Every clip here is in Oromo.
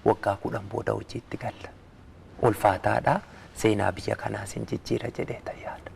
waggaa kudhan booda hojiitti galla. Ulfaataadha, seenaa biyya kanaas hin jijjiira jedheetan yaada.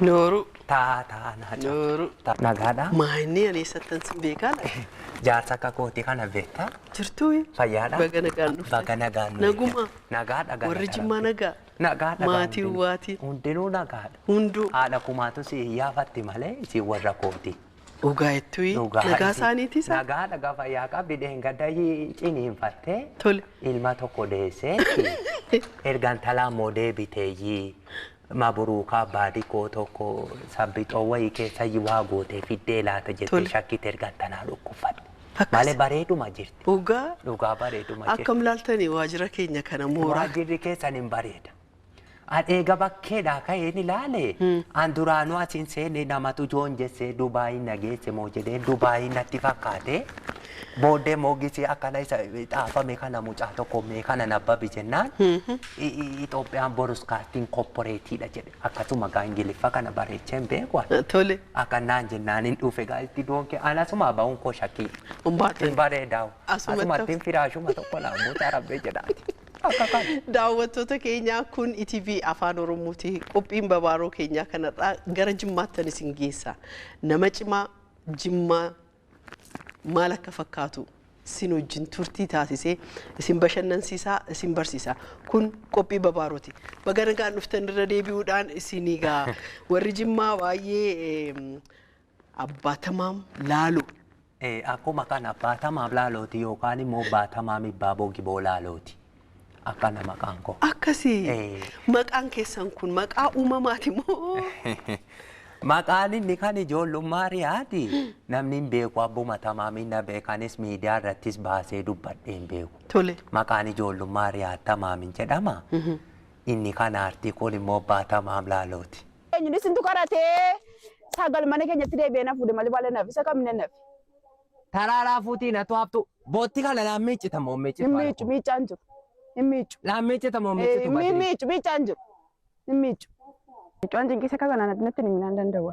Nooru. Taa taa naa caa. Nooru. Nagaadhaa. Maa inni ani eessattan sin beekaa laata? Jaarsa akka kooti kana beektaa? Jirtuu? Fayyaadhaa? Baga nagaan dhufte. Baga nagaan nu Naguma. eegde. Nagaadha galata Warri Jimmaa Rabbii. nagaa? Nagaadha gaa Maatii hundinuu. waatii. Hundinuu nagaadha. Hunduu. Haadha kumaatu si iyyaafatti malee isin warra kooti. Dhugaa ettui Dhugaa nagaa iti isaaniitii saa. nagaa dhagaa fayyaa qabdi dheengadda hi- ciniinfattee Tole. ilma tokko deesseetti erga intalaa immoo deebiteeyyii maburuukaa baadikoo tokko sabbixoo wayii keessayyi waa gootee fiddee laata jettee Tole. shakkite erga intalaa dhukkubfatte Akkas. malee bareeduma jirti Dhugaa dhugaa bareeduma jirti akkam laaltanii waajjira keenya kana mooraa. waajjirri keessan hin bareeda An eega bakkeedhaa ka'een ilaale an duraanuu as hin seene namatu joonjessee Dubaayii na geesse moo jedhee Dubaayii natti fakkaate. Booddee immoo gisee akkana isa xaafame kana mucaa tokko mee kana nabbabi jennaan Itoophiyaan Boroskaastiin Kopporeetiidha jedhe akkasuma gaa Ingiliffa kana bareechee hin beeku ani. Tole. Akkanaan jennaan hin dhufe gaa itti doonke an asumaa ba'uun koo shakkii. Ummaa Hin bareedaa. Asumatti- Asumatti hin firaashuma tokko naa buusa rabbee jedhaati. Akka kan. Daawwattoota keenya kun ETV Afaan Oromooti. Qophiin babaaroo keenyaa kanarraa gara Jimmaattan isin geessa. Nama cimaa Jimmaa maal akka fakkaatu isin wajjin turtii taasisee isin bashannansiisaa isin barsiisa. Kun qophii babaarooti. Baga nagaan dhuftan irra deebi'uudhaan isin egaa warri Jimmaa baay'ee Abbaa Tamaam Laaloo. Ee, akkuma kana Abbaa Tamaam Laalooti yookaan immoo Abbaa Tamaam Ibbaaboo Giboo Laalooti. Akkana maqaan koo. Akkasi. Ee. Maqaan keessan kun maqaa uumamaati moo? Maqaan inni kan ijoollummaa riyaati. Namni hin beeku abbuma tamaamiin na beekanis miidiyaa irrattis baasee dubbadhee hin beeku. Tole. Maqaan ijoollummaa riyaat tamaamiin jedhama. Inni kan aartii kun immoo abbaa tamaam laalooti. Eenyuun isintu qaratee sagal mana keenyatti deebi'ee na fuudhe malee baala naaf isa kamina naaf. Taraaraa fuutii natu haftu. Bootti kana naan miiccita moo miiccita? Hin miiccu miiccaan jiru. Hin miiccu. Naan miiccita moo miiccitu Hin badii? miiccu miiccaan jiru. Hin miiccu. Miiccaan cinqisa kaza naan natti himinaan danda'u.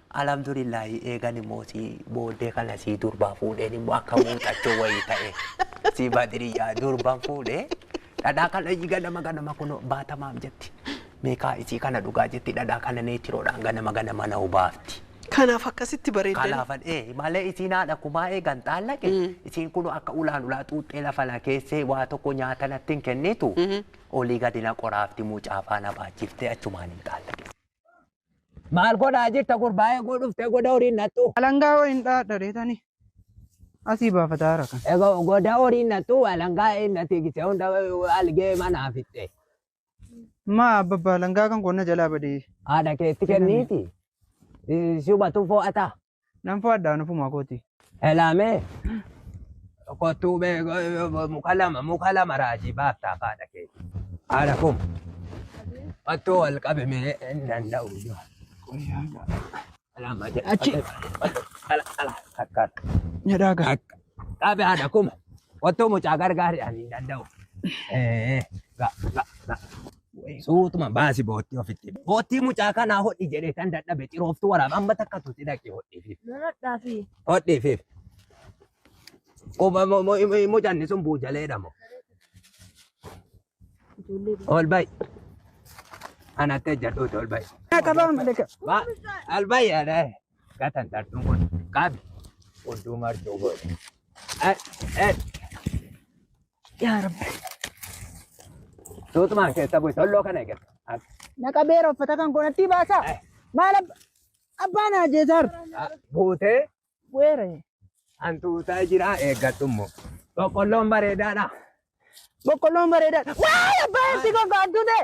Alhamdulillahi eegan immoo si booddee kana sii durbaa fuudheen immoo akka muuxachoo wayii ta'e si badiriyyaa durban fuudhee dhadhaa kana ganama ganama kun baatamaaf jetti meeqaa isii kana dhugaa jetti dhadhaa kana neetiroodhaan ganama ganama na hubaafti. Kanaaf akkasitti bareeddan. Kanaafan ee malee isiin haadha kumaa eegan xaallaqe isiin kun akka ulaan ulaa xuuxxee lafa na keessee waa tokko nyaata natti hin kennitu olii gadi na qoraafti mucaa faana baachifte achumaan hin xaallaqe. Maal godhaa jirta gurbaa eeguu dhuftee goda horiin nattu. Alangaa hoo hin dhaadha reetani. Asii baafataa rakan. Egaa goda horiin nattu alangaa hin natti gisee hunda algee manaa fixxe. Maa abbaa alangaa kan koo na jalaa badee. Haadha keetti kenniiti. Suma tufoo ataa. Nan fo'adha nufuma kooti. Elaamee kottuu bee muka lama muka lama raajii baaftaa faadha kee. Haadha koo kottuu wal qabi mee hin danda'u. Elaama jedha. Achi. Ala ala akka Jedhaa gaa. akka qabi haadha kuma kottuu mucaa gargaari ani hin danda'u. Eh, ga ga ga. Suutuma baasi boottii ofitti. Boottii mucaa kanaa hodhi jedhee tan dadhabe cirooftu waraaba amma takka tuti dhaqi hodhiifiif. Hodhiifiif. Mucanni sun buujaleedha moo. Ol bayi. Anatti ejjadhuuti ol bayi. Ol bayi adee. Gatan tartuun kun qabi. Odduu martuu godhe. Yaa Rabbi. Tuutumaan keessa bu'e solloo kana eeggata. Naqa beera uffata kan koonatti baasaa. Maal abba- abbaan haajeesaar. Buutee Weere. hantuutaa jiraa eeggadhu immoo. Boqqolloon bareedaadha. Boqqolloon bareedaadha. Waay abbaa ibsi gogaa hantuutee.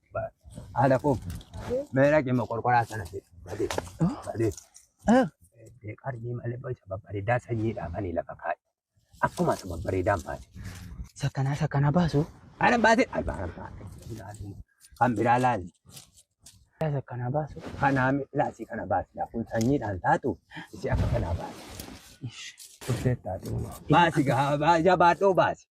Haadha koo meera cima qorqoraa sana fi badee badee dee qarjii malee boca babbareedaa sanyii dhaabanii lafa kaa'e. Akkuma isa babbareedaan baase. Sakkanaa sakkanaa baasu. Ana baase albaan baase. Kan biraa laali. Sakkanaa baasu. Kanaa laasii kana baase. Kun sanyiidhaan taatu isi akka kanaa baase. Turtee taatu. Baasi gahaa baasi jabaadhoo baasi.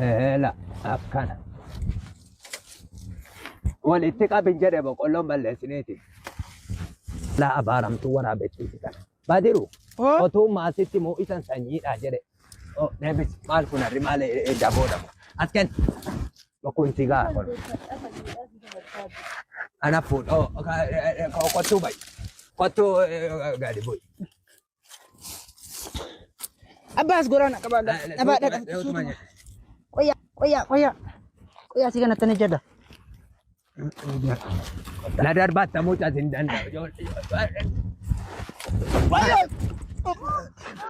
Eela akkana. Walitti qabin jedhe boqqolloon balleessiniiti. Laa abaaramtuu waraabessuuti kana. Badiru Oo. otuu maasitti moo isan sanyiidha jedhe. Oh, deebis maal kun harri maal daboodha. As kenn. Kun sigaa kun. Ana fuudh. Oh, kottuu bayi. Kottuu gadi bu'i. Abbaas goraana qabaa dhabaa dhabaa. Qoyaa qoyaa qoyaa qoyaa si kana tana jedha. Na darbaatta mucaa sin danda'u.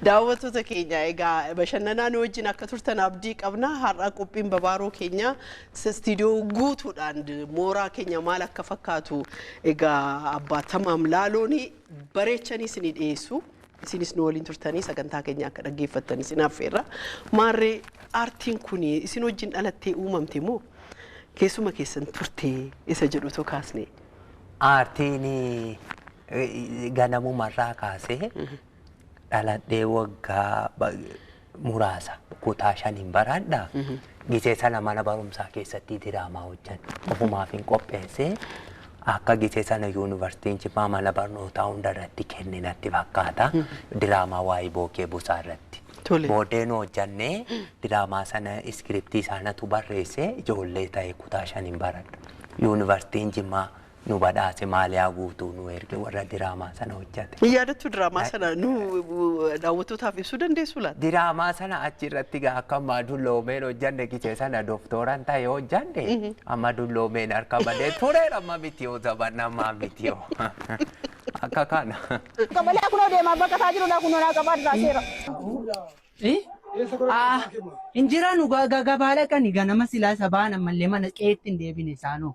Daawwattoota keenya egaa bashannanaa nu wajjin akka turtan abdii qabna. Har'a qophiin babaaroo keenya istiidiyoo guutuudhaan mooraa keenya maal akka fakkaatu egaa abbaa tamaam laalooni bareechanii isinii dhiyeessu. Isinis nu waliin turtanii sagantaa keenya akka dhaggeeffattan isin affeerra. Maarree aartiin kun isin wajjin dhalattee uumamte moo keessuma keessan turte isa jedhu otoo kaasne. Aartiin eh, ganamumarraa kaasee dhaladhee waggaa ba- muraasa kutaa shaniin baraadha. Gisee sana mana barumsaa keessatti diraamaa hojjan ofumaafin qopheesse akka gisee sana yuunivarsiitiin jimmaa mana barnootaa hunda irratti kenne natti fakkaata diraamaa waa'ee bookee busaa irratti. Tole. Booddee nu hojjannee diraamaa sana iskiriptii isaanatu barreesse ijoollee ta'e kutaa shaniin baradha. Yuunivarsiitiin jimmaa nu badhaase maaliyaa guutuu nu erge warra diraamaa sana hojjate. Ni yaadattu diraamaa sana nu daawwattootaaf ibsuu dandeessu laata? Diraamaa sana achi irratti gaa akka ammaa dulloomeen hojjanne gise sana doktooran ta'e hojjanne amma dulloomeen harka badee tureera amma miti yoo zabanna ammaa miti yoo akka kana. Qabalee kunoo deemaa bakka isaa jiru laa kunoo naa qabaa duraa seera. Injiraan gabaala qani ganama silaa sabaan ammallee mana qeetti hin deebine isaanoo.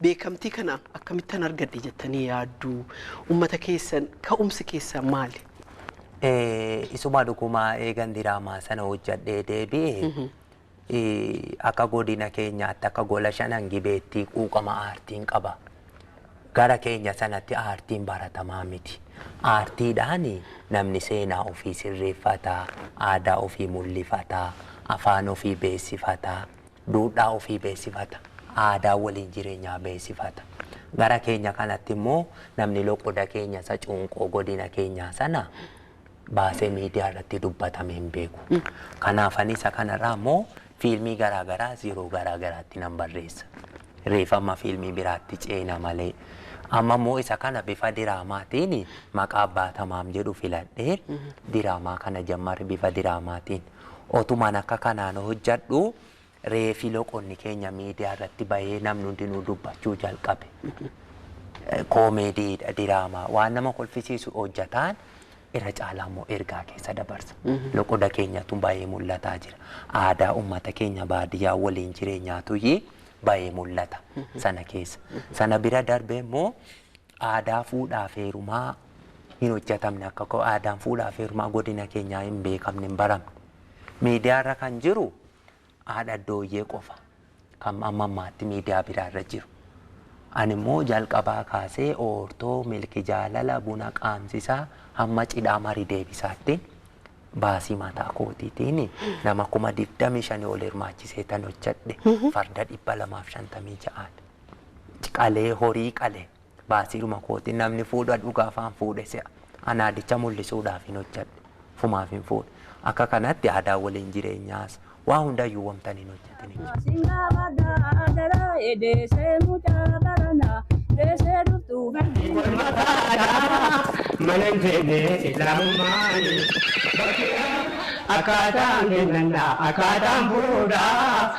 Beekamtii kana akkamittan argadhe jettanii yaaddu? Ummata keessan ka'umsi keessan maali? Isuma dhuguma eegan diraamaa sana hojjadhee deebi'e akka godina keenyaatti akka gola shanan gibeetti quuqama aartiin qaba. Gara keenya sanatti aartiin baratamaa miti. Aartiidhaan namni seenaa ofii sirreeffata, aadaa ofii mul'ifata, afaan ofii beeksifata, duudhaa ofii beeksifata, aadaa waliin jireenyaa beeksifata. Gara keenya kanatti immoo namni loqoda keenya isa cuunqoo godina keenyaa sana baasee miidiyaa irratti dubbatamee hin beeku. Kanaaf ani isa kanarraa immoo fiilmii garaa garaas yeroo garaa garaatti nan barreessa. Reef amma fiilmii biraatti ceena malee. Amma immoo isa kana bifa diraamaatiin maqaa Abbaa Tamaam jedhu filadhee diraamaa kana jammarre bifa diraamaatiin. Otuman akka kanaan hojjadhu reefi loqonni keenya media irratti bahee namni hundinuu dubbachuu jalqabe. Comedy dha diraamaa waan nama kolfisiisu hojjataan irra caalaa immoo ergaa keessa dabarsa. Loqoda keenyatu bahee mul'ataa jira. Aadaa ummata keenya baadiyyaa waliin jireenyaatuyyii bahee mul'ata sana keessa. Sana bira darbee immoo. Aadaa fuudhaaf heerumaa hin hojjatamne akka aadaan fuudhaaf heerumaa godina keenyaa hin beekamne hin baramne. Miidiyaa irra kan jiru haadha dooyyee qofa kan amma ammaatti miidiyaa biraa irra jiru. Ani immoo jalqabaa kaasee oortoo, milki jaalala, buna qaamsisaa hamma cidhaa mari deebisaattiin baasii mataa kootiitiin nama kuma 25 ol hirmaachisee tan hojjadhe farda 256 ti. qalee horii qale baasiidhuma kootiin namni fuudha dhugaa afaan fuudhe se'a an aadicha mul'isuudhaaf hin hojjadhe fumaaf hin fuudhe akka kanatti aadaa waliin jireenyaas waa hundayyuu wamtan hin hojjatin hin jiru. Singa bada adara edese mucha barana dese duftu gandi. Walmata adaama manan jenne islaamummaan akkaataan kennannaa akkaataan fuudhaa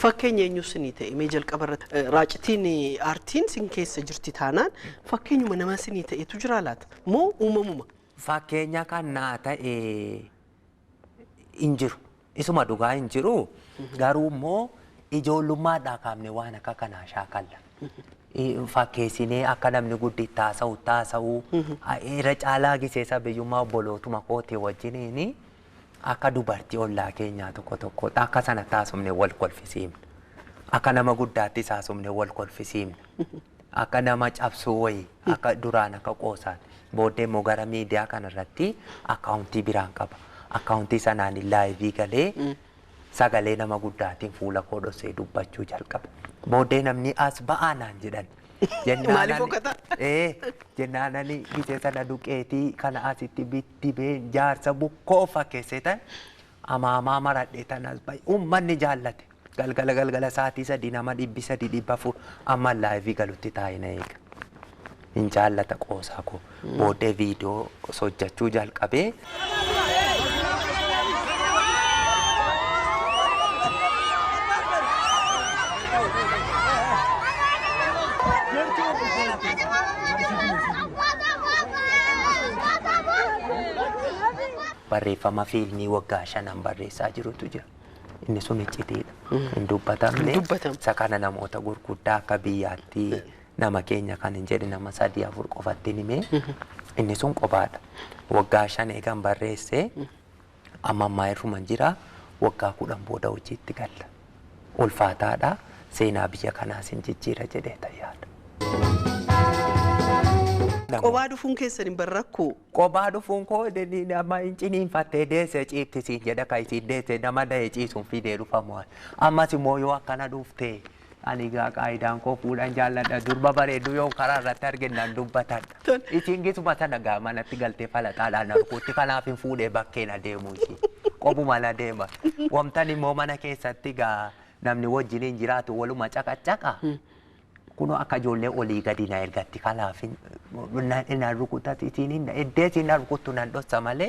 Fakkeenya eenyuu sinii ta'e mee jalqaba irratti eh, raacitiin eh, aartiin sin keessa jirti taanaan fakkeenyuma nama sinii ta'etu jira laata moo uumamuma Fakkeenya kan naa ta'e hin jiru. Isuma dhugaa hin jiru. Garuu immoo ijoollummaadhaa kaafne waan akka kanaa shaakalla. I- Fakkeessinee akka namni gudditti haasa'u taasa'u irra caalaa giseessa biyyummaa obbolootuma kootii wajjiniin Akka dubartii ollaa keenyaa tokko tokkootti akka sanatti haasofne wal kolfisiifna. Akka nama guddaattis haasofne wal kolfisiifna. Akka nama cabsuu wayii akka duraan akka qoosaan booddee immoo gara miidiyaa kanarratti akkaawuntii biraan qaba. Akkaawuntii sanaan laayivii galee Sagalee nama guddaatiin fuula koo dhossee dubbachuu jalqabe. Booddee namni as ba'aa naan jedhan. Jennaan Maaliif ani- fokkata? Ee, jennaan ani gise sana duqeetii kana asitti biddibee jaarsa bukkoo fakkeessetan amaamaa maradhe tan as ba'e. Uummanni jaallate. Galgala galgala sa'aatii sadii nama dhibbi sadii dhibba afur amma laayivii galutti taa'ee na eega. Nin jaallata qoosaa koo. Booddee video osoo hojjachuu jalqabee. Barreeffama fiilmii waggaa shanan barreessaa jirutu jira. Inni sun iccitiidha. Hin dubbatamne. Hin dubbatamne. Isa kana namoota gurguddaa akka biyyaatti nama keenya kan hin jedhe nama sadii afur qofatti hin himee inni sun qobaadha. Waggaa shan eegan barreesse amma ammaa irruman jira waggaa kudhan booda hojiitti galla. Ulfaataadha seenaa biyya kanaas hin jijjiira jedhee tayyaadha. Qobaa dhufuun keessan hin bar rakkoo. Qobaa dhufuun koo nama hin ciniinfattee deesse ciifti siin jedha kan isiin deesse nama da'e ciisuun fidee dhufamu. Ammas immoo yoo akkana dhuftee. Ani egaa qaayidaan koo fuudhan jaalladha. Durba bareedduu yoon karaa irratti arge nan dubbatadha. Ishiin gisuma sana egaa manatti galtee falaxaadhaan arguutti kanaafin fuudhee bakkeen adeemu ishii. Qobuman adeema. Wamtan immoo mana keessatti egaa namni wajjin hin jiraatu waluma caqaccaqa. Kunoo akka ijoollee olii gadi na ergatti kanaafin na rukutati isiin hin eddee isiin na rukuttu nan dhossa malee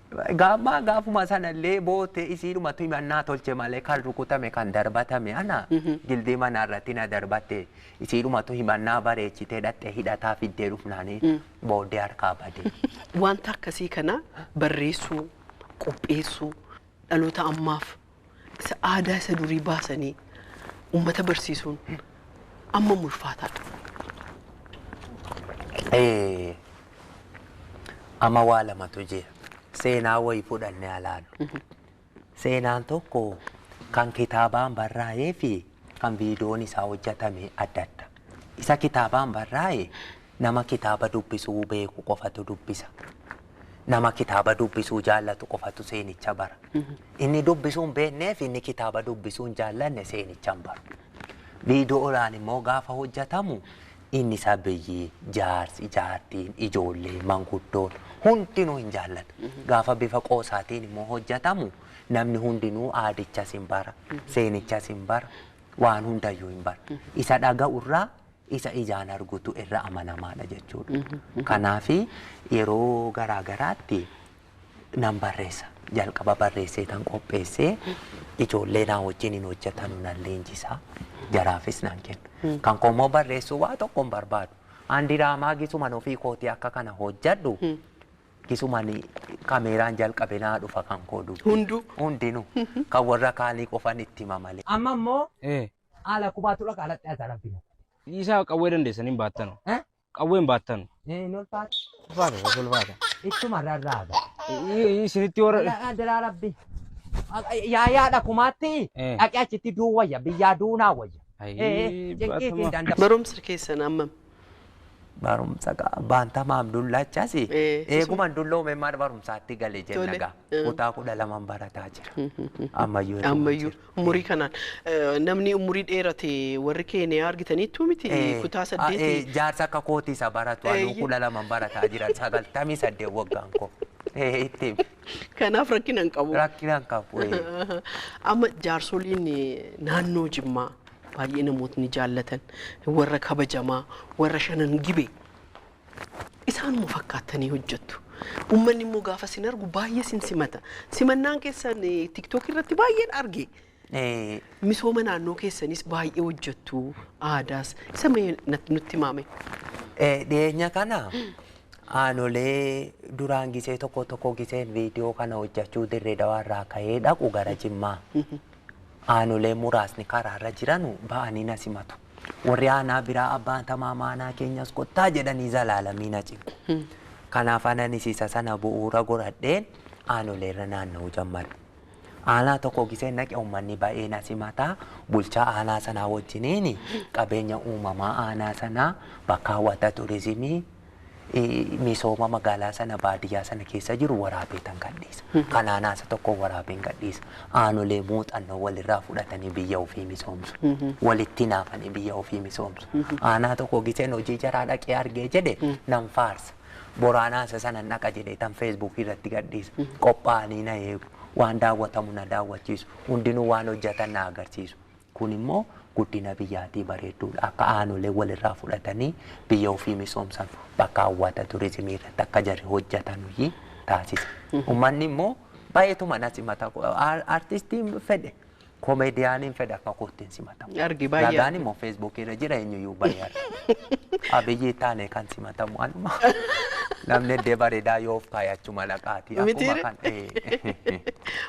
Gaammaa gaafuma sanallee boottee isiidhumatu himannaa tolche malee kan rukutame kan darbatame ana gildii manaa irratti na darbatte isiidhumatu himannaa bareechitee dhaqxee hidhataa fiddee dhufnaanii booddee harkaa bade. Wanta akkasii kana barreessuu, qopheessuu, dhaloota ammaaf isa aadaa isa durii baasanii uummata barsiisuun amma ulfaataadha. Eh, Amma waa lamatu jira. Seenaa wayii fudhannee alaalu. Seenaan tokko kan kitaabaan barraa'ee fi kan viidiyoon isaa hojjatame adda adda. Isa kitaabaan barraa'e nama kitaaba dubbisuu beeku qofatu dubbisa. Nama kitaaba dubbisuu jaallatu qofatu seenicha bara. Inni dubbisuu hin beekneef inni kitaaba dubbisuu hin jaallanne seenicha hin baru. Viidiyoodhaan immoo gaafa hojjatamu inni isa biyyi, jaarsi, jaartiin, ijoollee, manguddoon hundinuu hin jaallatu. Gaafa bifa qoosaatiin immoo hojjatamu Namni hundinuu aadichas hin bara, seenichas hin bara, waan hundayyuu hin bara. Isa dhaga'u irraa isa ijaan argutu irra amanamaadha jechuudha. Kanaaf yeroo garaa garaatti nan barreessa. Jalqaba barreessee tan qopheessee ijoollee naa wajjin hin hojjetanu nan leenjisa. Jaraafis nan kenna. Kan koo immoo barreessuu waa tokko hin barbaadu. An diraamaa gisuman ofii kootii akka kana hojjedhu Kisumani kameeraan jalqabe naa dhufa kan koo dubbi. Hundu. Hundinu kan warra kaanii qofan itti hima malee. Amma immoo Ee. haala kubaatu dhaqa alatti as alatti na. Isaa qawwee dandeessan hin baattanu. Eh? Qawwee hin baattanu. Hin ulfaata. Ulfaata gosa ulfaata. Ittuma rarraaga. Isinitti warra. Daraa rabbi. Yaa yaa dhakumaatti Eh. dhaqee achitti duu wayya biyyaa duunaa wayya. Ayii, Eh, eh, baatuma. jeqiitiin danda'u. Barumsi keessan ammam? Barumsa qa baanta maam dullaachasi Ee, isuma. eeguman dulloome maal barumsaatti gale jenna Tole. gaa Mm. kutaa kudha laman barataa jira ammayyuu eeguma ammayyuu jira. umurii kanaan eh, namni umurii dheerate warri keeniyaa argitaniittuu miti Eh, kutaa ah, eh, saddeeti jaarsa akka kooti isa baratu anuu Eeyye. kudha laman barataa jira sagaltamii saddeet waggaan koo Eh, itti himi. kanaaf rakkina hin qabu. rakkina hin qabu eh. Amma jaarsoliin eh, naannoo Jimmaa baay'ee namootni jaallatan, warra kabajamaa, warra shanan gibee isaanuma fakkaattanii hojjettu. Uummanni immoo gaafa sin argu baay'ee sin simata. Simannaan keessan eh, TikTok irratti baay'een arge. Eh, Misooma naannoo keessanis baay'ee hojjettu aadaas isa mee nat- nutti maame. Eh, dhiyeenya kana aanolee duraan gisee tokko tokko giseen viidiyoo kana hojjechuu dirree dawaarraa ka'ee dhaqu gara jimmaa. aanolee muraasni karaarra jiranu ba'anii na simatu. Warri aanaa biraa abbaan tamaamaa aanaa keenyas kottaa jedhanii zalaalamii na cimu. Kanaaf ananis isa sana bu'uura goradheen aanoleerra naanna'uu jammare. Aanaa tokko giseen naqe uummanni ba'ee na simata bulchaa aanaa sanaa wajjiniin qabeenya uumamaa aanaa sanaa bakka hawwata turizimii misooma magaalaa sana baadiyyaa sana keessa jiru waraabeetan gadhiisa. Kan aanaa isa tokko waraabeen gadhiisa. Aanolee muuxannoo walirraa fudhatanii biyya ofii misoomsu. Walitti naafanii biyya ofii misoomsu. Aanaa tokko giseen hojii jaraa dhaqee argee jedhe nan faarsa. Boraanaa isa sana dhaqa jedhee tan feesbuukii irratti gadhiisa. Qophaa'anii na eegu. Waan daawwatamu na daawwachiisu. Hundinuu waan hojjetan na agarsiisu. Kun immoo guddina biyyaatii bareedduudha. Akka aanoleen walirraa fudhatanii biyya ofii misoomsanu, bakka hawwata turizimii irratti akka jarri hojjatanuyi taasisa. Ummanni immoo baay'eetuma na simata. Artistiin fedhe, komeediyaaniin fedhe akka kootti hin simatamu. Argi baay'ee Ragaan argi. immoo feesbuukii irra jira eenyuyyuu bahee arga. Abiyyi taane kan simatamu anuma. Namni eddee bareedaa yoo of kaayachu malaqaati. Akkuma Mitiire? kan ee.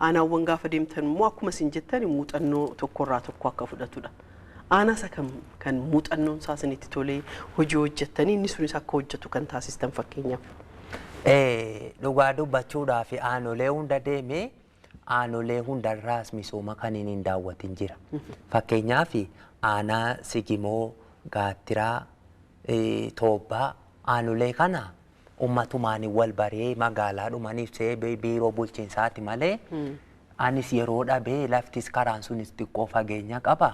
Aanaawwan gaafa deemtan immoo akkuma isin jettan muuxannoo tokkorraa tokko akka fudhatudha. Aanaa isa kam kan muuxannoon isaa isinitti tolee hojii hojjettanii inni sunis akka hojjetu kan taasistan fakkeenyaaf? Eh, Dhugaa dubbachuudhaaf aanolee hunda deeme aanolee hundarraas misooma kan inni hin daawwatin jira. Fakkeenyaaf aanaa Sigimoo, Gaattiraa, eh, Toobbaa aanolee kana ummatumaani wal baree magaalaadhumani fsee biiroo bulchinsaati malee anis yeroo dhabee laftis karaan sunis xiqqoo fageenya qaba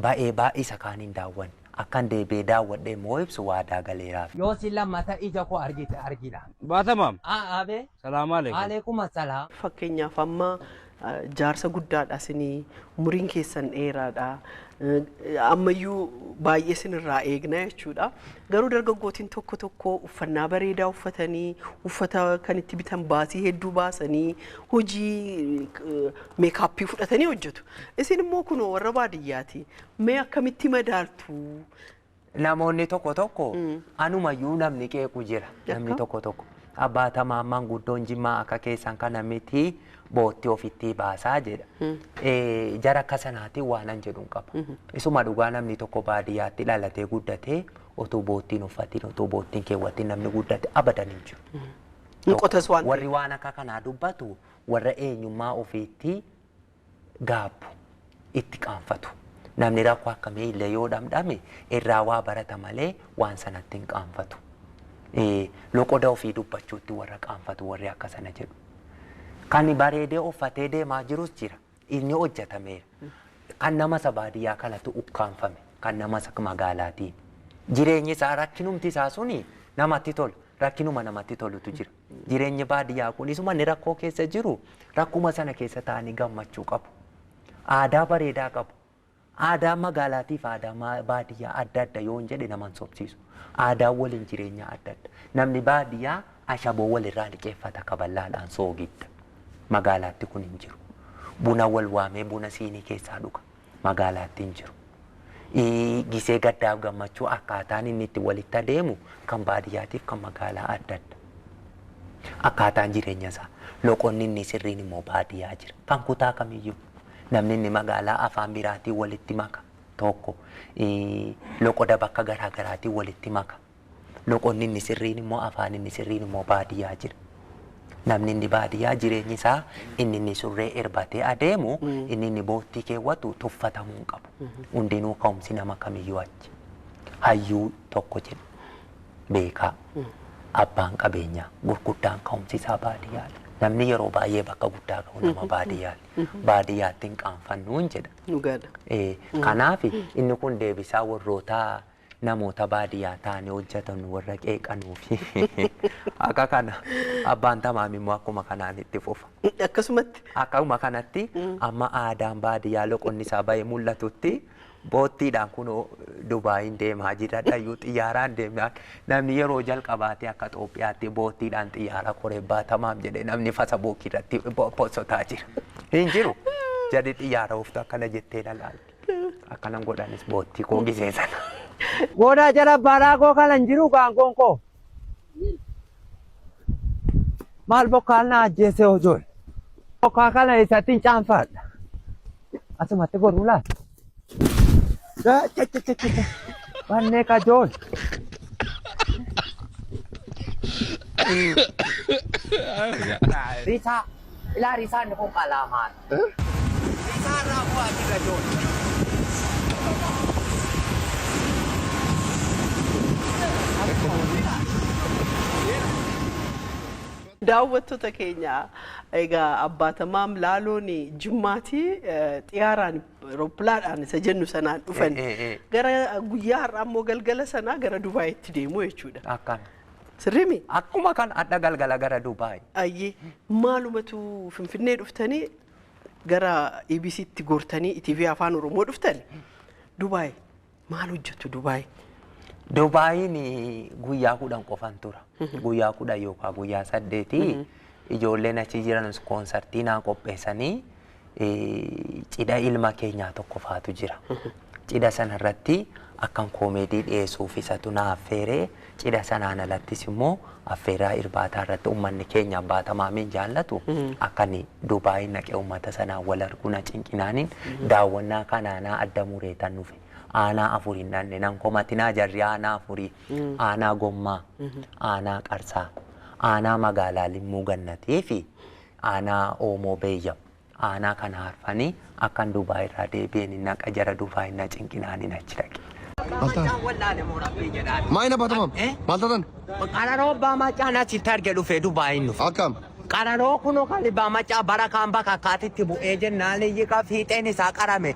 ba'ee baay'isa kaan hin daawwanne akkan deebi'ee daawwadhe immoo ibsu waadaa galeeraaf. Yoo si lammata ija koo argite argina. Baatamaam. Aa abee. Salaamaaleekum. Aleekuma salaam. Fakkeenyaaf amma Jaarsa guddaadha sini umuriin keessan dheeraadha. Ammayyuu baay'ee sinirraa eegna jechuudha. Garuu dargaggootiin tokko tokko uffannaa bareedaa uffatanii uffata kan itti bitan baasii hedduu baasanii hojii meekaappii fudhatanii hojjetu. Isin immoo kunoo warra baadiyyaati. Mee akkamitti madaaltu? namoonni tokko tokko anumayyuu namni qeequ jira namni Yakka. tokko tokko abbaa tamaammaan guddoon jimmaa akka keessan kana miti bootti ofittii baasaa jedha Eh, jara akka sanaatiin waanan jedhuun qaba isuma dhugaa namni tokko baadiyyaatti dhalatee guddatee otuu boottiin uffatiin otuu boottiin keewwatiin namni guddate abadan hin jiru. Ni qotas waan ta'eef. warri waan akka kanaa dubbatu warra eenyummaa ofiitti gaabbu, itti qaanfatu. Namni rakkoo akkamii illee yoo dhamdhame irraa waa barata malee waan sanatti hin qaanfatu. Ee, loqoda ofii dubbachuutti warra qaanfatu warri akka sana jedhu. Kan bareedee uffatee deemaa jirus jira. Inni hojjetameera. Kan nama isa baadiyyaa kanatu ukkaanfame. Kan nama isa magaalaatiin. Jireenyi isaa rakkinumti isaa suni namatti tola. Rakkinuma namatti tolutu jira. Jireenyi baadiyyaa kunis uummanni rakkoo keessa jiru rakkuma sana keessa taa'anii gammachuu qabu. Aadaa bareedaa qabu. Aadaa magaalaatiif aadaa ma- baadiyyaa adda adda yoon jedhe nama hin sobsiisu. Aadaa waliin jireenyaa adda adda. Namni baadiyyaa ashaboo walirraa liqeeffata kaballaadhaan soogidda. Magaalaatti kun hin jiru. Buna wal waamee buna siinii keessaa dhuga. magaalaatti hin jiru. ii, Gisee gaddaaf gammachuu akkaataan inni itti walitti adeemu kan baadiyyaatiif kan magaalaa adda adda. Akkaataan jireenya isaa loqonni inni sirriin immoo baadiyyaa jira. Kan kutaa kamiyyuu namni inni magaalaa afaan biraatiin walitti maka tokko ii, loqoda bakka garaa garaatiin walitti maka. Loqonni inni sirriin immoo afaan inni sirriin immoo baadiyyaa jira. Namni inni baadiyyaa jireenyi isaa inni inni surree erbatee adeemu inni inni boottii keewwatu tuffatamuu hin qabu. Hundinuu ka'umsi nama kamiyyuu achi. Hayyuu tokko jedhu beekaa abbaan qabeenyaa gurguddaan ka'umsi isaa baadiyyaadha. Namni yeroo baay'ee bakka guddaa ga'u nama baadiyyaati. Baadiyyaatti hin qaanfannuun jedha. Dhugaadha. Eh, Kanaaf inni kun deebisaa warroota namoota baadiyaa taane hojjatanu warra qeeqanuufi akka kana abbaan tamaam immoo akkuma kanaan itti fufa. Akkasumatti. Akkuma kanatti amma aadaan baadiyaa loqonni isaa bahee mul'atutti boottiidhaan kunoo Dubaayiin deemaa jira dhayyuu xiyyaaraan deemnaan namni yeroo jalqabaatti akka Xoophiyaatti boottiidhaan xiyyaara koree baatamaam jedhee namni fasabuukii irratti posotaa jira. Hin jiru. Jarri xiyyaara ooftu akkana jettee na laalte. Akkanan godhanis boottii koo gisee sana. Goodaa jala baaraa koo kanan jiru gaangoon koo. Maal bokkaan na ajjeese hojool. Bokkaa kana isattiin caanfaadha. Asumatti goruu laata? Gaa- cha- cha- cha- cha- cha. Bannee kajool. Risaa. Ilaa risaa inni kun qalaamaa. Daawwattoota keenya egaa abbaatamaam laaloon jimmaatii xiyaaraan rooppilaadhaan isa jennu sanaan dhufan gara guyyaa har'aa immoo galgala sanaa gara Dubaayitti deemu jechuudha. Akkana. Sirrii mi? Akkuma kan adha galgala gara Dubai. Ayyii maalumatu finfinnee dhuftanii gara EBC tti gortanii ETV afaan oromoo dhuftani Dubaay maal hojjettu Dubaay Dubaayiin guyyaa kudhan qofan tura. Guyyaa kudhan yookaan guyyaa saddeeti ijoolleen achi jiran koonsartii naa qopheessanii eh, cidha ilma keenyaa tokko faatu jira. Cidha sana irratti akkan koomeedii dhiyeessuuf isatu na affeere. Cidha sanaan alattis immoo affeeraa irbaataa irratti uummanni keenya abbaa tamaamiin jaallatu akka inni Dubaay naqee uummata sanaan wal arguu na cinqinaaniin daawwannaa kanaanaa adda mureetan dhufe. Aanaa afur hin dhanne nan komatinaa jarri aanaa afurii aanaa gommaa aanaa qarsaa aanaa magaalaa limmuu gannatii fi Aanaa Oomoo Beeyya. Aanaa kana harfani akkan Dubai irraa deebi'een hin haqa jara dufaa hin na cinqinaan hin achi dhaqe. Maal taate? Maa hin abbaata maam? Maal taatan? Qararoo abbaa macaa na sitti arge dhufee Dubai hin dhufe. Akkam? Qararoo kuno kan abbaa macaa bara kaan bakka akkaatitti bu'ee jennaan iyyi kan fiixeen isaa qarame.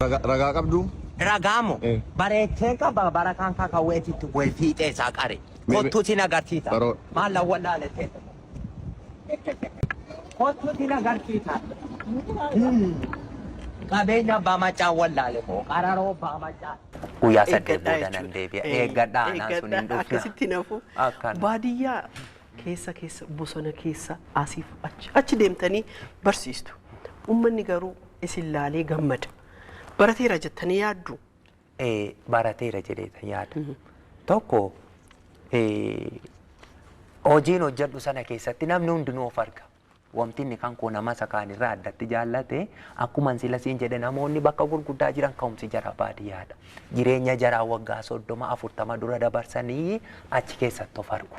Ragaa qabduu? Ragaa moo? Bareechee qaba barakaan kakawweetu itti bu'ee fiixee isaa qare. Kottuu sin agarsiisa. Maal na wallaale seete moo? Kottuu sin agarsiisa. Qabeenya abbaa maccaa wallaale moo? Qararoo abbaa maccaa. Guyyaa saddeet booda nan deebi'a. Eeggadhaa anaan sun hin dhufna. Akkasitti hin hafu. Baadiyyaa keessa keessa bosona keessa asiif achi achi deemtanii barsiistu. Ummanni garuu isin laalee gammada. Barateera jettanii yaaddu? Eh, barateera jedheeta yaada. Tokko eh, hojiin hojjedhu sana keessatti namni hundinuu of arga. Wanti inni kan koo nama isa kaan irraa addatti jaallate akkuma sila siin jedhe namoonni bakka gurguddaa jiran ka'umsi jaraa baadiyyaadha. Jireenya jaraa waggaa soddoma afurtama dura dabarsanii achi keessatti of argu.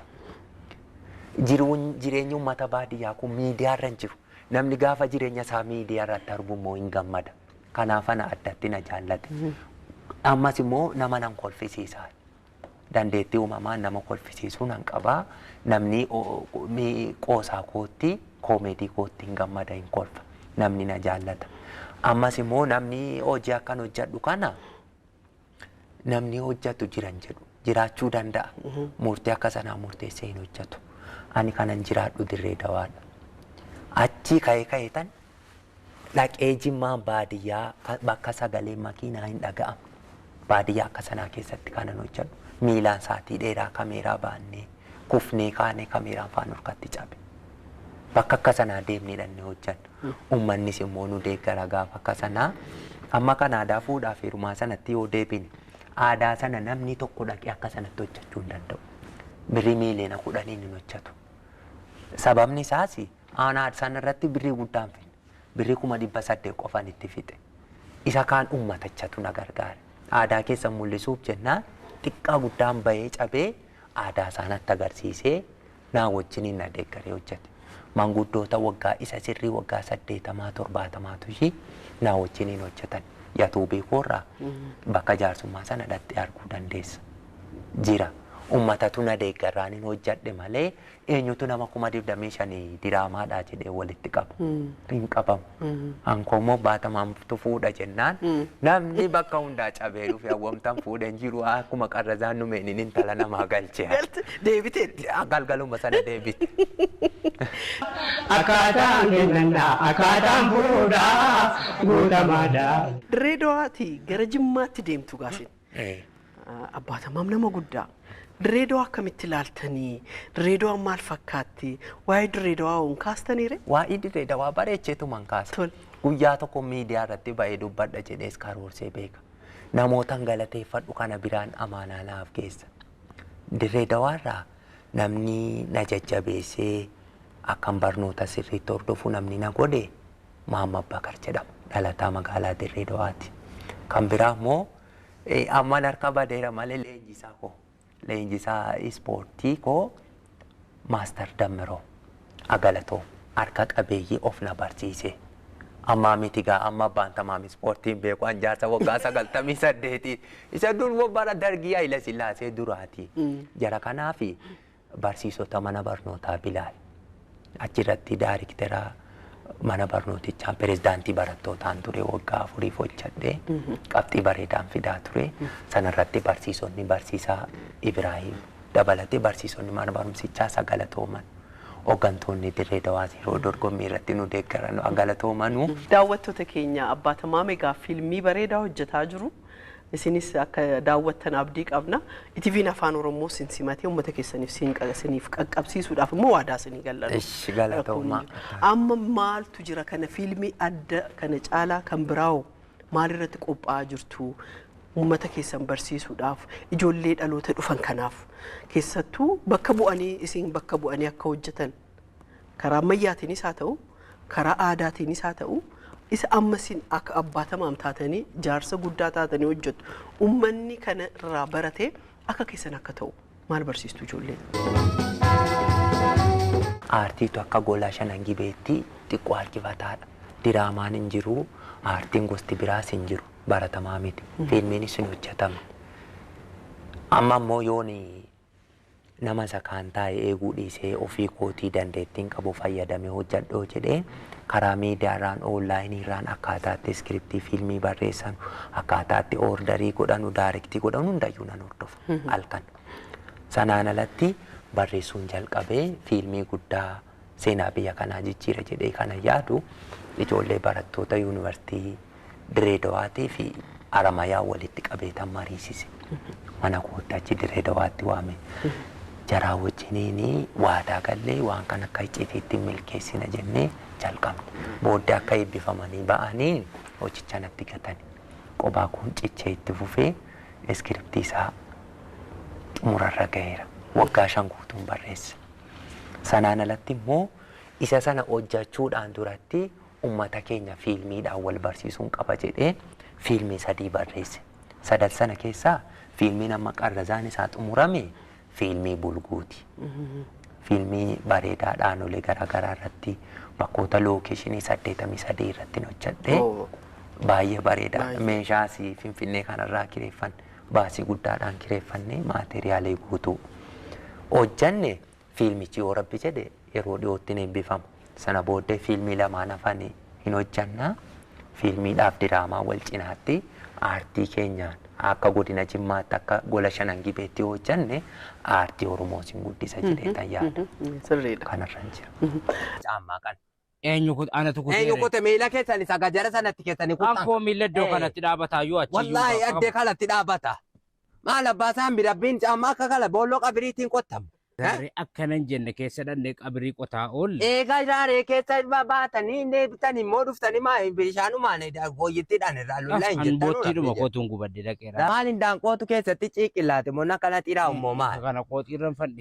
jiruun jireenyi uummata baadiyyaa kun miidiyaa irra hin jiru. Namni gaafa jireenya isaa miidiyaa irratti argu immoo hin gammada. Kanaaf ana addatti na jaallate. Ammas immoo nama nan kolfisiisa. Dandeettii uumamaan nama kolfisiisuu nan qaba. Namni o- o- mi- qoosaa kootti, koomeedii kootti hin gammada, hin kolfa. Namni na jaallata. Ammas immoo namni hojii akkan hojjedhu kana namni hojjatu jiran jedhu jiraachuu danda'a. Murtii akka sanaa murteessee hin hojjatu. Ani kanan jiraadhu dirree dawaadha. Achii ka'ee ka'ee tan dhaqee jimmaan baadiyyaa ka- bakka sagalee makiinaa hin dhaga'amu. Baadiyyaa akka sanaa keessatti kanan hojjadhu miilaan saatii dheeraa kameeraa baannee kufnee kaane kameeraan faa nurkatti cabe. Bakka akka sanaa deemnee dhannee hojjanna. Ummannis immoo nu deeggara gaafa akka sanaa. Amma kan aadaa fuudhaa fi heerumaa sanatti yoo deebine aadaa sana namni tokko dhaqee akka sanatti hojjachuu hin danda'u. Birrii miiliyoona kudhaniin hin hojjatu. Sababni isaas aanaa sana irratti birrii guddaa hin finne. Birrii kuma dhibba saddeet qofan itti fixe. Isa kaan ummatachatu na gargaare. Aadaa keessan mul'isuuf jennaan xiqqaa guddaan bahee cabee aadaa isaa natti agarsiisee naa wajjiniin na deeggaree hojjete. Maanguddoota waggaa isa sirrii waggaa saddeetamaa torbaatamaatu ishii naa wajjiniin hojjetan. Yatuubii koorraa bakka jaarsummaa sana dhaxxee arguu dandeessa. Jira. Ummatatu na deeggarraanin hojjedhe malee Eenyutu nama kuma digdamii shanii diraamaadhaa jedhee walitti qaba? Hin qabamu. An koo immoo baatamaantu fuudha jennaan namni bakka hundaa cabee dhufe hawwamtan fuudhe hin jiru akkuma qarrazaan numeeniin intala namaa galche. Galti deebiteetti. Galgaluma sana deebite. Akkaataan kennannaa akkaataan fuudhaa guutamaadha. Dirree Dawaatii gara Jimmaatti deemtu gaasin. Eh. Abbaa Tamaam nama guddaa. Dirreedawaa akkamitti ilaaltanii? Dirreedawaan maal fakkaatti? Waa'ee dirreedawaa hoon kaastaniire? Waa'ee dirree dawaa bareecheetuman kaasa. Tol. Guyyaa tokko miidiyaa irratti ba'ee dubbadha jedhees karoorsee beeka. Namootan galateeffadhu kana biraan amaanaa naaf geessa. Dirree dawaarraa namni na jajjabeessee akkan barnoota sirriitti hordofu namni na godhe Mahammad Bakar jedhama. Dhalataa magaalaa Dirree Dawaati. Kan biraa immoo amman harkaa badeera malee leenjisaa koo leenjisaa ispoortii koo Maastar Dammiroo Agalatoo harka qabeeyyii of na barsiise. Ammaa miti gaa amma abbaan tamaam ispoortiin beeku an jaarsa waggaa sagaltamii saddeeti. Isa dur immoo bara dargii Hayila Sillaasee duraati. Jara kanaafi Barsiisota mana barnootaa Bilaal. Achirratti daariktera mana barnootichaan pirezidaantii barattootaan ture waggaa afuriif hojjadhe. Qabxii bareedaan fidaa ture. Sanarratti barsiisonni barsiisaa Ibraahiim dabalatee barsiisonni mana barumsichaa sa galatooman. Hoggantoonni Dirree Dawaas yeroo dorgommii irratti nu deeggaran haa galatoomanuu. Daawwattoota keenya Abbaa Tamaame egaa fiilmii bareedaa hojjetaa jiru. Isinis akka daawwattan abdii qabna. ETVn Afaan Oromoo sin simatee uummata keessaniif siin qa- isiniif qaqqabsiisuudhaaf immoo waadaa isinii gallanoo. Ishi, galatoomaa. Rakkoon hin jiru. Amma maaltu jira kana fiilmii adda kana caalaa kan biraawoo maalirratti qophaa'aa jirtu? Uummata keessan barsiisuudhaaf ijoollee dhaloota dhufan kanaaf keessattuu bakka bu'anii isin bakka bu'anii akka hojjetan karaa ammayyaatiinis haa ta'u, karaa aadaatiinis haa ta'u, isa amma isin akka abbaa tamaam taatanii jaarsa guddaa taatanii hojjettu ummanni kana irraa baratee akka keessan akka ta'u maal barsiistu ijoollee? Aartiitu akka gola shanan gibeetti xiqqoo harkifataadha. Diraamaan hin jiru, aartiin gosti biraas hin jiru, baratamaa miti. Fiilmiinis hin hojjetama. Amma immoo yoon Nama isa kaan taa'ee eeguu dhiisee ofii kootii dandeettiin qabu fayyadamee hojjedhoo jedhee karaa miidiyaarraan, online irraan akkaataa itti iskiriptii fiilmii barreessanu, akkaataa itti orderii godhanu, daarektii godhanu hundayyuu nan hordofa halkan. Sanaan alatti barreessuun jalqabe fiilmii guddaa. seenaa biyya kanaa jijjiira jedhee kanan yaadu ijoollee barattoota yuunivarsiitii Diree Dawaatii fi Aramayaa walitti qabeetan mariisise. Mana kootti achi Diree Dawaatti waame. Jaraa wajjiniin waadaa gallee waan kan akka icciitiitti milkeessina jennee jalqabne. Booddee akka eebbifamanii ba'anii hojicha natti gatani. Qobaa koon cichee itti fufee iskiriptii isaa xumurarra gaheera. Waggaa shan guutuun barreesse. Sanaan alatti immoo isa sana hojjachuudhaan duratti ummata keenya fiilmiidhaan wal barsiisuun qaba jedhee fiilmii sadii barreesse. Sadan sana keessaa fiilmiin amma qarrazaan isaa xumurame fiilmii bulguuti. Fiilmii bareedaa dhaanolee garaagaraa irratti bakkoota lookeeshinii saddeetamii sadii irratti hojjedhee baay'ee bareedaa meeshaas finfinnee kanarraa kireeffan. Baasii guddaadhaan kireeffannee maateriyaalii guutuu hojjanne. Fiilmichi yoo Rabbi jedhe yeroo dhiyootti ni eebbifama. Sana booddee fiilmii lamaan hafan hin hojjanna. Fiilmiidhaaf diraamaa wal cinaatti aartii keenyaan akka Godina Jimmaatti akka Gola Shanan Gibeetti yoo hojjanne aartii Oromoos hin guddisa jedheetan yaada. Sirriidha. Kanarran jira. Caammaa kana Eenyu kut anatu kutee. Eenyu kute miila keessani saga jara sanatti keessani kutan. Kan koo miila iddoo kanatti dhaabataa yoo achi. Wallaahi addee kanatti dhaabata. Maal abbaa isaan birabbiin caammaa akka kala boolloo qabiriitiin qottamu. Gaarree akkanan jenne keessa dhannee qabirii qotaa oolle. Eegaa gaarree keessa baatanii inni eebbitan immoo dhuftanii maa bishaanumaan gooyyittiidhaan irraa lullaa hin jettan. Hangoottii dhuma kootuun gubadde dhaqeera. Maal hin daanqootu keessatti ciiqillaate moo nakana xiraa ummoo maal. Kana kootiirran fadhi.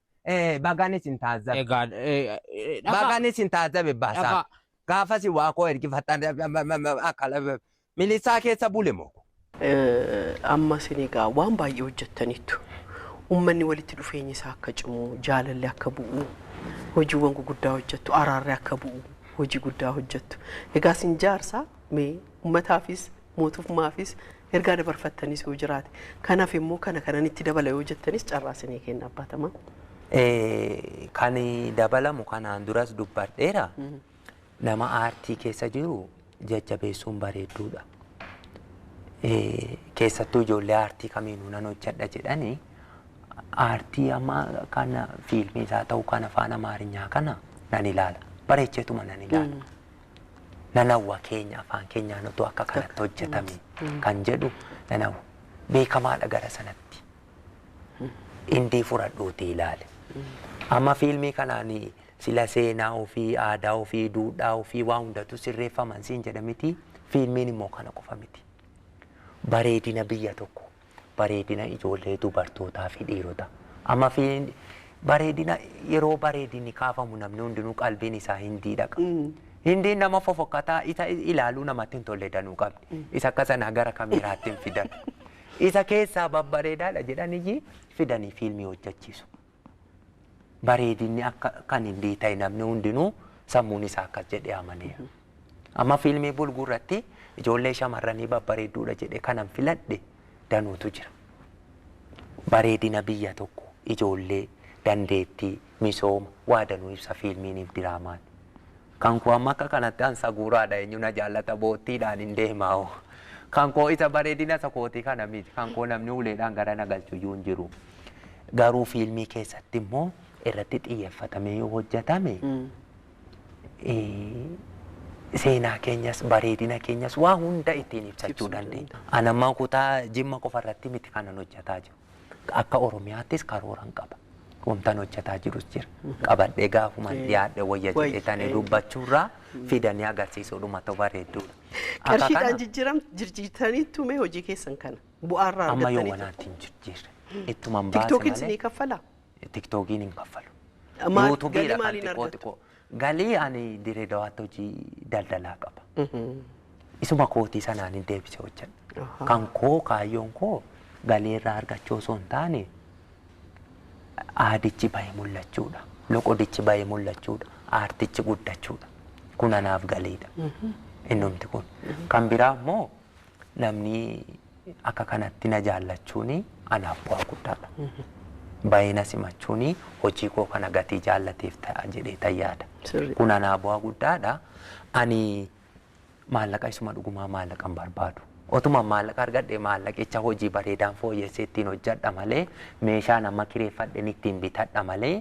Eh, bagaan isin taazzabe. Egaa eh, eh, dhagaa Bagaan isin taazzabe baasaa. dhagaa Gaafasi waa koo ergifattan akka lafa- milisaa keessa bule moo. Eh, ammas inni egaa waan baay'ee hojjettaniittu ummanni walitti dhufeenyi isaa akka cimu jaalalli akka bu'u hojiiwwan guguddaa hojjettu araarri akka bu'u hojii guddaa hojjettu egaa isin jaarsa mee ummataafis mootummaafis ergaa dabarfattanis yoo jiraate. Kan hafe immoo kana kanan itti dabala yoo jettanis carraa isinii kenna abbaa tamaa. Eh, Kan dabalamu kanaan duras dubbadheera. Nama aartii keessa jiru jajjabeessuun bareedduudha. Eh, Keessattuu ijoollee aartii kamiinuu nan hojjedha jedhanii aartii amma kana fiilmii isaa ta'u kan afaan amaarinyaa kana nan ilaala. Bareecheetuma nan ilaala. nan hawwa keenya afaan keenyaan otoo akka kanatti hojjetame kan jedhu nan hawwa. Beekamaadha gara sanatti. Indii furadhuutii ilaali. Amma fiilmii kanaan sila seenaa ofii, aadaa ofii, duudhaa ofii waa hundatu sirreeffaman siin jedha miti. Fiilmiin immoo kana qofa miti. Bareedina biyya tokko bareedina ijoollee dubartootaa fi dhiirota amma fi bareedina yeroo bareedinni kaafamu namni hundinuu qalbiin isaa hindii dhaqa. Hindiin nama fofokkataa isa ilaaluu namatti hin tolle danuu qabdi. Isa akka sanaa gara kameeraatti hin fidan. Isa keessaa babbareedaadha jedhan iyyii fidanii fiilmii hojjechiisu. bareedinni akka kan hin biita'e namni hundinuu sammuun isaa akkas jedhee amaneera. Amma fiilmii bulguu irratti ijoollee shamarranii babbareedduudha jedhee kanan filadhe danuutu jira. Bareedina biyya tokko ijoollee dandeettii misooma waa danuu ibsa fiilmiiniif diraamaan. Kan koo amma akka kanatti an saguuraadha eenyu na jaallata boottiidhaan hin deemaa hoo kan koo isa bareedina isa kootii kana miti kan koo namni uleedhaan gara na galchu iyyuu hin jiru garuu fiilmii keessatti immoo irratti xiyyeeffatamee yoo hojjetame eh, seenaa keenyas bareedina keenyas waa hunda ittiin ibsachuu Ibsuu dandeenya. An amma kutaa jimma qofa irratti miti kanan hojjetaa jiru. Akka Oromiyaattis karooran qaba. Wantan hojjetaa jirus jira. Qabadhee gaafuman dhiyaadhe wayya Wayya, jedhee tanii eh. dubbachuurraa fidanii agarsiisuudhuma ta'u bareedduudha. Akka kana Qarshiidhaan jijjiiram jirjiirtanii tumee hojii keessan kana bu'aarraa amma yoo argattanii wanaatti hin jijjiirre ittuman baase tiktokiin malee isinii kaffalaa? tiktookiin hin kaffalu. Maal- Yuutubiidha galii kan maaliin xiqqoo argattu? xiqqoo. Galii ani dirree dawaatti hojii daldalaa qaba. Isuma kootii sanaan hin deebisee hojjedha. Ahaa. Kan koo kaayyoon koo galii irraa argachuu osoo hin taane aadichi bahee mul'achuudha. Loqodichi bahee mul'achuudha. Aartichi guddachuudha. Kun anaaf galiidha. Innumti kun. Kan biraa immoo namni akka kanatti na jaallachuun anaaf bu'aa guddaadha. Bayee na simachuun hojii koo kana gatii jaallateef ta'a jedhee tan yaada. Sirrii. Kun anaa bu'aa guddaadha. Ani maallaqa isuma dhugumaa maallaqa hin barbaadu. Otuma maallaqa argadhe maallaqicha hojii bareedaan fooyyessee ittiin hojjedha malee meeshaan amma kireeffadhen ittiin bitadha malee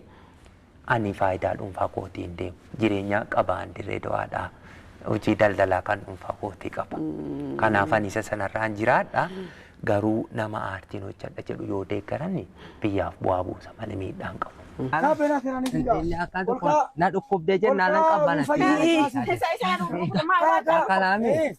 Ani faayidaa dhuunfaa kootiin deema. Jireenyaa qaba an dirree dawaadhaa. Hojii daldalaa kan dhuunfaa kootii qaba. Kanaaf ani isa sanarraan jiraadha. Garuu nama aartiin hojjedha jedhu yoo deeggarani biyyaaf bu'aa buusa malee miidhaa hin qabu. Inni akka tokko na dhukkubde jennaan nan qabbanatti. Isa isa dhukkubde maal laata? Akkanaami.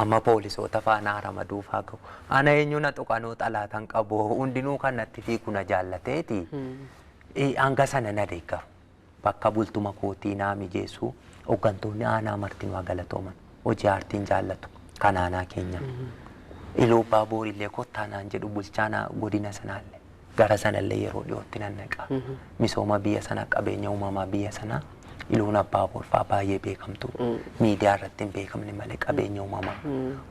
Amma poolisoota faa naa ramaduu faa gahu. Ana eenyu na tuqanuu xalaatan qabu hundinuu kan natti fiigu na jaallateeti. Eh, Hanga sana na deeggaru. Bakka bultuma kootii naa mijeessu. Hoggantoonni aanaa martinuu haa galatooman. Hojii aartiin jaallatu kan aanaa keenyaa. Iluu Abbaa Boorillee kottaa naan jedhu bulchaan aa- godina sanaallee. Gara sanallee yeroo dhiyootti nan dhaqa. Misooma biyya sanaa qabeenya uumamaa biyya sanaa Iluun Abbaa Boorfaa baay'ee beekamtu. Miidiyaa irratti hin beekamne malee qabeenya uumamaa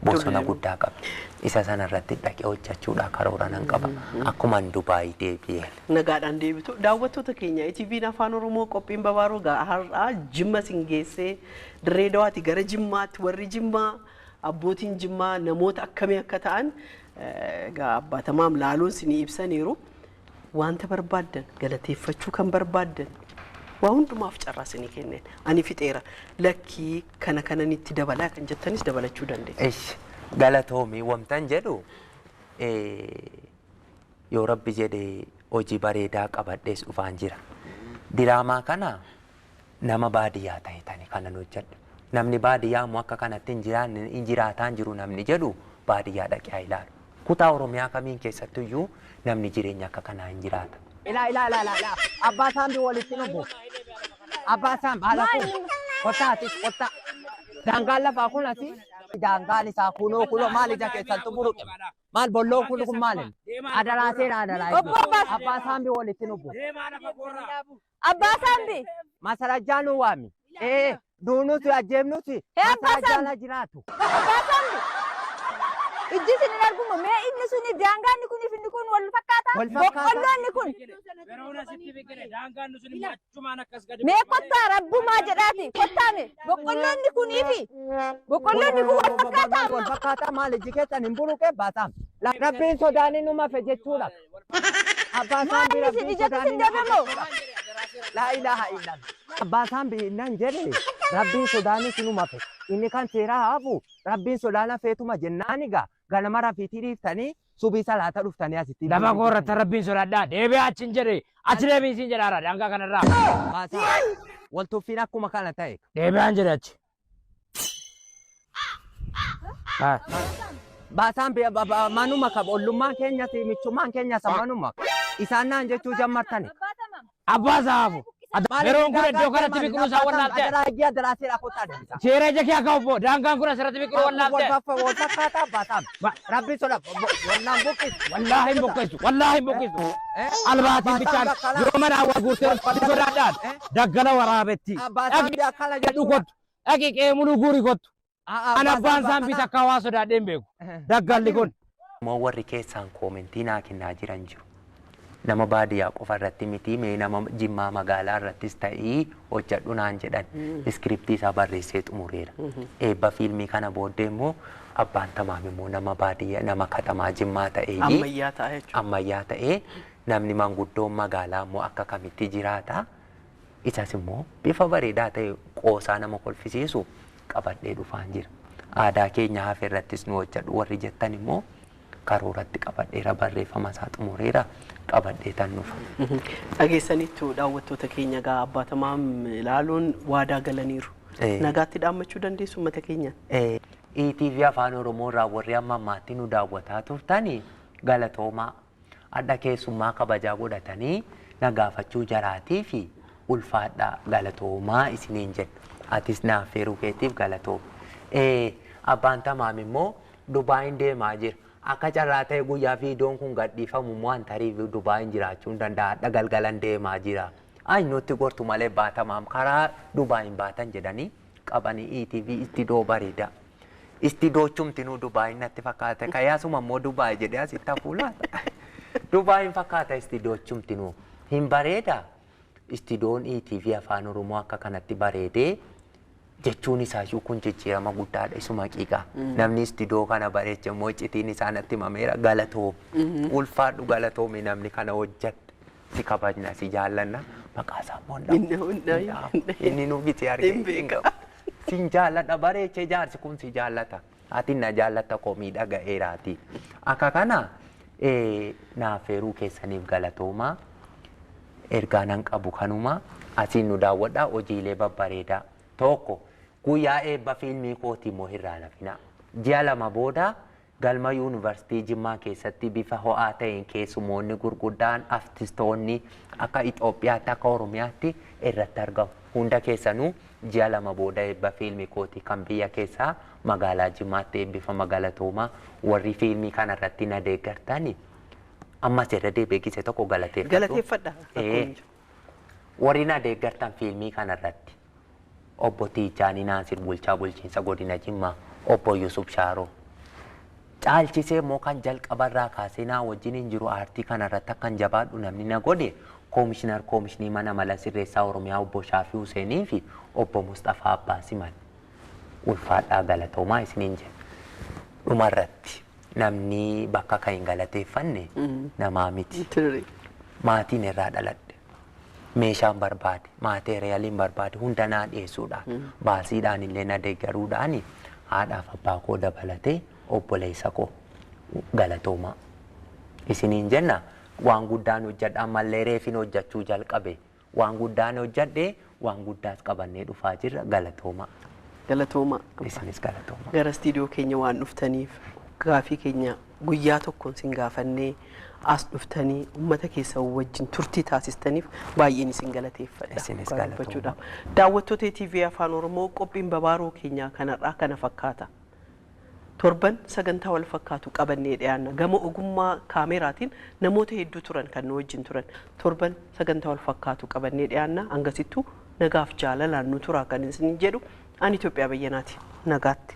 bosona guddaa qabdi. Isa sana irratti dhaqee hojjechuudhaa karoora nan qaba. Akkuman Dubaay deebi'een. Nagaadhaan deebitu. Daawwattoota keenya ETVn Afaan Oromoo qophiin babaaroo gaa har'aa Jimma sin geessee Dirreedawaati gara Jimmaatti warri Jimmaa abbootiin Jimmaa namoota akkamii akka ta'an Egaa Abbaa Tamaam laaluun sinii ibsaniiru. Wanta barbaaddan, galateeffachuu kan barbaaddan waa hundumaaf carraa sinii kenneen. Ani fixeera. Lakkii kana kanan itti dabalaa kan jettanis dabalachuu dandeessu. Ish galatoomi wamtan jedhu eh, yoo rabbi jedhe hojii bareedaa qabadhees dhufaan jira. Diraamaa kana Nama baadiyyaa tahitani kanan hojjadha. Namni baadiyyaa ammoo akka kanatti hin jiraanne, hin jiraataa hin jiru namni jedhu baadiyyaa dhaqee haa ilaalu. Kutaa Oromiyaa kamiin keessattu iyyuu namni jireenya akka kanaa hin jiraata. Ilaa ilaa ilaa ilaa ilaa abbaa saambi walitti dhufu abbaa saambi haala kun kottaa ati kottaa daangaan lafaa kun ati daangaan isaa kunoo kunoo maal ija keessantu buruqe maal bolloon kun kun maal adaraa seera adaraa abbaa saambi walitti dhufu Abbaa Saambi! Maasarajjaa nuu waami. Ee, duunuuti ajjeefnuuti Hee, Abbaa maasarajjaan Saambi! haa jiraatu. Abbaa Saambi! Ijji isin hin argummo mee inni suni daangaa inni kuniif inni kun wal fakkaataa? Wal fakkaataa. Boqqolloo inni kun. Yeroon asitti biqile daangaan nuti immoo achumaan akkas gadi Mee kottaa rabbumaa jedhaati kottaa mee boqqolloo inni kunii fi boqqolloo inni kun wal fakkaataa Wal ammoo. fakkaataa maal ijji keessan hin buruqe baasaam. Rabbiin sodaanii nu mafe jechuudha. Abbaa Maal saambii inni isin rabbiin ijatti sodaanii isin deebi'e moo? Laa ilaaha illallah. Abbaa saambii innaan jedhe rabbiin sodaanii sinuma fe. Inni kan seeraa haafu rabbiin sodaana feetuma jennaani gaa ganama rafiitii dhiiftanii subii salaata dhuftanii asitti. Lafa koo irratti rabbiin sodaadhaa deebi'aa achi hin jedhe achi deebiin siin jedhaara daangaa kanarraa Baasaa wal tuffiin akkuma kana ta'e. deebi'aan jedhe achi. Ah. Baasaan bi- ba- ba- manuma qaba ollummaan keenyas michummaan keenyas manuma isaan naan jechuu jammartani. Abbaa saafu. Yeroon kun iddoo kanatti biqiluu isaa wallaaltee. Adaraa ijji adaraa seeraa kottaa deemta. Seera ija kee akka obbo daangaan kun asirratti biqiluu wallaaltee. Walfaffaa walfakkaataa baasaan. Ba- Rabbi soda. Wallaan buqqis. Wallaahi hin buqqeessu. Wallaahi hin buqqeessu. Albaatiin bichaan yoo mana hawaa guurtee olfatti sodaadhaan daggala waraabetti. Abbaataan biyya akkana Jedhu jechuudha. kottu. Dhaqi qe'ee muluu guuri kottu. An abbaan isaan bita akka hawaa sodaadhee hin beeku. Daggalli kun. Moo warri keessaan koomentii naa kennaa jiran jiru. Nama baadiyaa qofa irratti miti mee nama Jimmaa magaalaa irrattis ta'ii hojjedhu naan jedhan. Iskiriptii isaa barreessee xumureera. Eebba fiilmii kana booddee immoo Abbaan Tamaam immoo nama baadiyyaa nama katamaa Jimmaa ta'eeyyi. Ammayyaa ta'a jechuudha. Ammayyaa ta'ee namni manguddoon magaalaa immoo akka kamitti jiraata. Isas immoo bifa bareedaa ta'e qoosaa nama kolfisiisu qabadhee dhufaan jira. Aadaa keenya hafe irrattis nu hojjedhu warri jettan immoo karooratti qabadheera barreeffama isaa xumureera qabadheetan dhufa. Dhageessaniittu daawwattoota keenya egaa abbaa tamaam ilaaluun waadaa galaniiru. Ee. Nagaatti dhaammachuu dandeessu uummata keenyaan. Eh, ETV Afaan Oromoo irraa warri amma ammaatti nu daawwataa turtani galatoomaa. Hadha keessummaa kabajaa godhatanii na gaafachuu jaraatii fi ulfaadhaa galatoomaa isiniin jedha. Atis na affeeruu keetiif galatooma. Eh, abbaan tamaam immoo Dubaayiin deemaa jira. Akka carraa ta'ee guyyaa viidiyoon kun gadhiifamu immoo an tarii Dubaayiin jiraachuun danda'a. Hadha galgalan deemaa jira. Ay nutti gortu malee baatamaam karaa Dubaayiin baatan jedhanii qabanii ETV istidoo bareeda. Istidoo chumtinuu Dubaayiin natti fakkaate. Ka'ee asuma immoo Dubaayi jedhee asitti hafuu laata? Dubaayiin fakkaata istidoo chumtinuu. Hin bareeda? Istidoon ETV Afaan Oromoo akka kanatti bareedee jechuun isaayyuu kun jijjiirama guddaadha isuma haqiiqa namni istidoo kana bareeche immoo iccitiin isaa natti himameera galatoomi ulfaadhu galatoomi namni kana hojjette si kabajna si jaallanna maqaa isaa immoo hin Hin dhabu, hin dhabu, hin dhabu. inni nu gitee argee Hin hin beeka. qabu siin jaalladha bareeche jaarsi kun si jaallata. Ati na jaallatta koo miidhaga eeraati. Akka kana naaf eeruu keessaniif galatooma. Ergaa nan qabu kanuma. Asiin nu daawwadhaa hojiilee babbareedaa. Tokko guyyaa eebba fiilmii kooti immoo hin raalafinaa. Ji'a lama booda galma yuunivarsiitii Jimmaa keessatti bifa ho'aa ta'een keessumoonni gurguddaan artistoonni akka Itoophiyaatti akka Oromiyaatti irratti argamu. Hunda keessanuu Ji'a lama booda eebba fiilmi kooti kan biyya keessaa magaalaa Jimmaatti eebbifama galatooma warri fiilmii kana irratti na deeggartani ammas irra deebi'ee gise tokko galateeffadhu. Galateeffadha rakkoon Ee, hin jiru. warri na deeggartan fiilmii kana irratti obbo Tiijaanii Naasir bulchaa bulchiinsa godina Jimmaa obbo Yusuf Shaaroo Caalchisee immoo kan jalqaba irraa kaasee naa wajjiniin jiru aartii kana irratti akkan jabaadhu namni na godhe Koomishinar Koomishinii Mana Mala Sirreessaa Oromiyaa Obbo Shaafii Huseenii fi Obbo Musxafaa Abbaa Simal. Ulfaadhaa galatoomaa isiniin jenna. Dhuma irratti namni bakka ka'een galateeffanne namaa miti. Maatiin irraa dhaladhe. meeshaan barbaade, maateeriyaliin barbaade hunda naa dhiyeessuudhaan baasiidhaan illee na deeggaruudhaan haadhaaf abbaa koo dabalatee obboleessa koo galatoomaa. Isiniin jenna waan guddaan hojjedha ammallee reefin hojjechuu jalqabe waan guddaan hojjedhe Waan guddaas qabannee dhufaa jirra. Galatoomaa. Galatoomaa. Isinis galatoomaa. Gara istiidiyoo keenya waan dhuftaniif gaafii keenya guyyaa tokkoon sin gaafannee as dhuftanii uummata keessa wajjin turtii taasistaniif baay'een isin galateeffadha. Isinis Dhugaa galatoomaa. dubbachuudhaaf. Daawwattoota TV Afaan Oromoo qophiin babaaroo keenyaa kanarraa kana fakkaata. Torban sagantaa wal fakkaatu qabannee dhiyaanna. Gama ogummaa kaameeraatiin namoota hedduu turan kan nu wajjin turan. Torban sagantaa wal fakkaatu qabannee dhiyaanna. Hangasittuu nagaaf jaalalaan nu turaa kan isiniin jedhu ani Itoophiyaa Bayyanaati. Nagaatti.